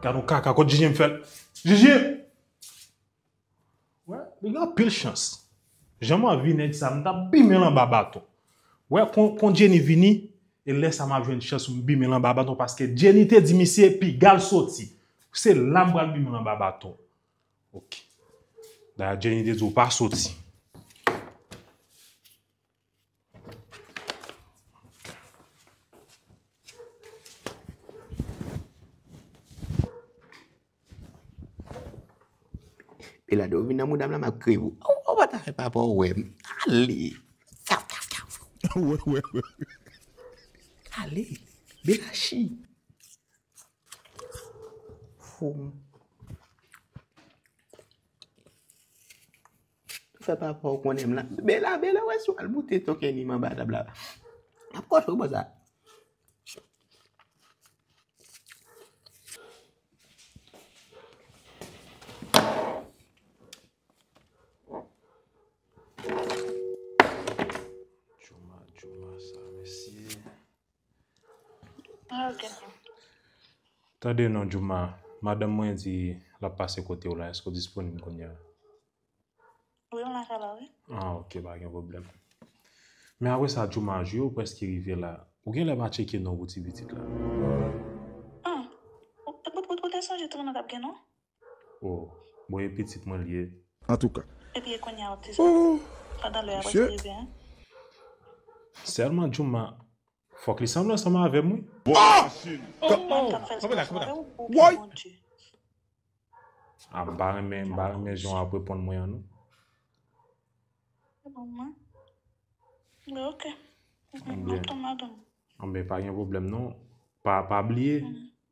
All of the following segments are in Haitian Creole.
Gad yon kaka kot Jijim fèl. Jijim! Wè, li gen anpil chans. Jan m anvi nèg sa, m ta bimen l anba baton. Wè, kon Jenny vini, e lè sa m ap jwenn chans pou m bimen l anba baton paske Jenny te di misye piga l soti. Se la m pral bimen l anba baton. Ok. Dayè Jenny te di ou pa soti. E la do vin nan moudam la map kri ou. Ou ou pa ta fè pa pou wèm. Ale. Fè ou fè ou fè ou. Ou ou ou ou. Ale. Be la chi. Fou. Fè pa paw konnen m la. Bela, Bela wè si w al boute to Kenny m anba tab la. M ap kòche w pou sa. Tande non Jooma, madanm mwen di l ap pase kote w la, èske w disponib kounye a? Wi, m la ka la, wi. Ah ok, pa gen pwoblèm. Men apre sa Jooma, jou yo prèske rive la, ou gen lè pa tcheke non pou ti pitit la? Humm, ou te sonje tounen t ap gen non? Oh bon e pitit mwen l ye. Antouka ooh mesye. Selman Jooma fok li sanble ansanm avem wi. Woy. Ah m pa renmen m pa renmen jan w ap reponn mwen an non. Anben pa gen pwoblèm non pa bliye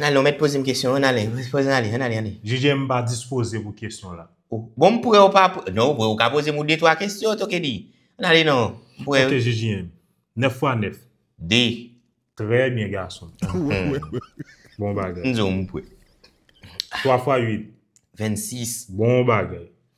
Nalin ok mèt poze m kesyon an ale. Jije m pa dispoze pou kesyon la. Bon m pre ou pa pre non ou pre ou ka poze m ou de twa kesyon tou kidi. Anale non m pre. Ok jije m 9 fwa 9. 2. Trè byen gason. Bon bagay. M di w m pre. 3 fwa 8. 26. Bon bagay.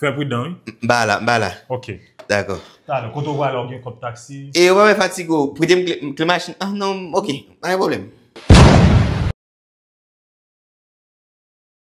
Fè pridan wi. M ba la, m ba la. Ok. Dakò. Talè, kote ou prale ou gen kont taksi? E yo pa bay fatigue ou, prete m kle machin an? Non, ok, pa gen pwoblèm.